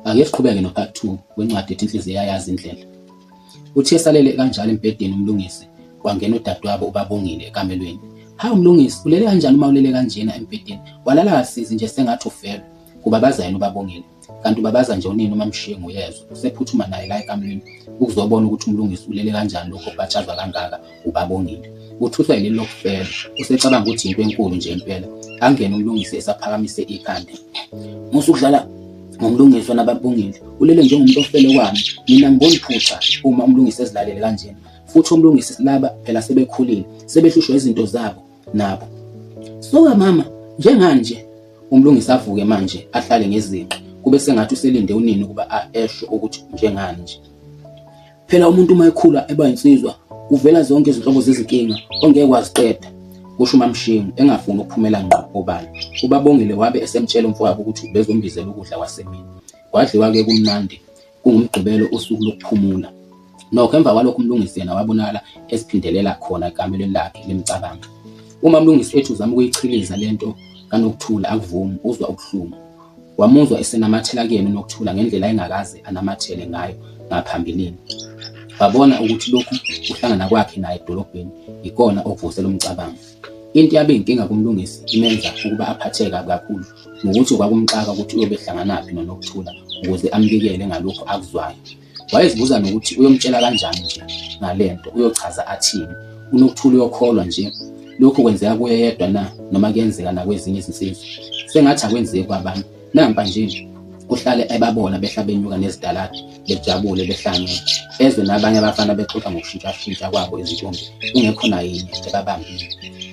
Ake siqhubeke no part 2 wencwadi ethi inhliziyo yayazi indlela. Uthi esalele kanjalo embhedeni umlungisi kwangena udadewabo ubabongile ekamelweni. Hawu mlungisi ulele kanjani uma ulele kanjena embhedeni? Walala kasizi nje sengathi ufelwe. Kubabaza yena ubabongile. Kanti ubabaza nje unini uma mshiye nguyezwa. Usephuthuma naye la ekamelweni ukuzobona ukuthi umlungisi ulele kanjani lokho kubatshazwa kangaka. uBabongile. Uthuswa yileli lokufela, usecabanga ukuthi yinto enkulu nje impela. Angene uMlungisi esaphakamise ikhanda. Musa ukudlala ngomlungiswa nababongile ulele njengomuntu ofele kwami mina ngibona iphutha uma umlungisi ezilalele kanjena futhi umlungisi silaba phela sebekhulile sebehlushwa izinto zabo nabo suka mama njenganje umlungisi avuke manje ahlale ngezinqe kube sengathi uselinde unini ukuba esho ukuthi njenganje Phela umuntu uma ekhula eba insizwa kuvela zonke izinhlobo zezinkinga ongeke waziqeda kusho uMamshingo engafuni ukuphumela ngqo obala. Ubabongile wabe esemtshela umfowabo ukuthi ubezombizela ukudla kwasemini. Kwadliwa ke kumnandi kungumgqibelo usuku lokuphumula. Nokho emva kwalokho uMlungisi yena wabonakala esiphindelela khona ekamelweni lakhe limcabanga. Uma uMlungisi ethi uzama ukuyichiliza lento kanokuthula akuvumi uzwa ubuhlungu. Wamuzwa esenamathela kuyena uNokuthula ngendlela engakaze anamathele ngayo ngaphambilini. Wabona ukuthi lokhu kuhlangana kwakhe naye edolobheni yikona okuvuse lo mcabango. Into yabe inkinga kumlungisi imenza ukuba aphatheke kabi kakhulu ngokuthi kwakumxaka ukuthi uyobe ehlanganaphi noNokuthula ukuze ambikele ngalokhu akuzwayo. Wayezibuza nokuthi uyomtshela kanjani nje ngale nto, uyochaza athini. UNokuthula uyokholwa nje lokhu kwenzeka kuye yedwa na noma kuyenzeka nakwezinye izinsizwa? Sengathi akwenzeki kwabanye. Nampa nje uhlale ebabona behla benyuka nezidaladi bejabule behlangene ezwe nabanye abafana bexoxa ngokushintshashintsha kwabo izintombi kungekho nayinye ebabambile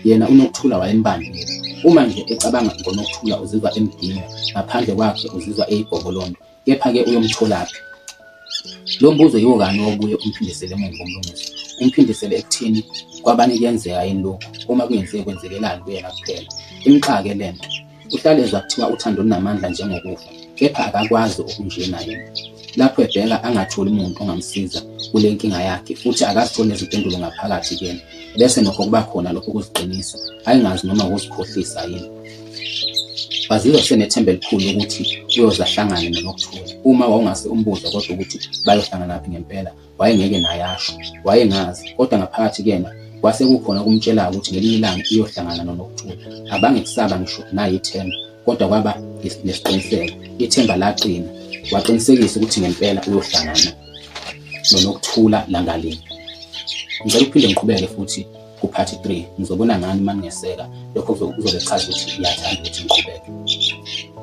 yena unokuthula wayembambile uma nje ecabanga ngonokuthula uzizwa emdinga ngaphandle kwakhe uzizwa eyigobolondo Kepha-ke uyomtholaphi? Lo mbuzo yiwo kanye obuye umphindisele emuva uMlungisi. Umphindisele ekutheni kwabanye kuyenzeka yini lokhu, uma kungenzeki kwenzekelani kuyena kuphela. Imxake le nto. Uhlale ezwa kuthiwa uthando lunamandla njengokufa, kepha akakwazi okunjena yena. Lapho ebheka angatholi muntu ongamsiza kule nkinga yakhe futhi akazitholi nezimpendulo ngaphakathi kuyena. Bese nokho kuba khona lokho kuziqinisa, ayengazi noma wuzikhohlisa yini. bazizwa senethemba elikhulu ukuthi uyoze ahlangane noNokuthola. Uma wawungase umbuze kodwa ukuthi bayohlanganaphi ngempela, wayengeke naye asho. Wayengazi, kodwa ngaphakathi kuyena kwase kukhona okumtshelayo ukuthi ngelinye ilanga uyohlangana noNokuthola. Abange kusaba ngisho naye ithemba, kodwa kwaba nesiqiniseko. Ithemba laqina, waqinisekisa ukuthi ngempela uyohlangana noNokuthola langalinye. Ngicela ukuphinde ngiqhubeke futhi kuphathi 3 ngizobona ngani uma ningeseka lokho kuzobe kuchaza ukuthi ngiyathanda ukuthi ngiqhubeke.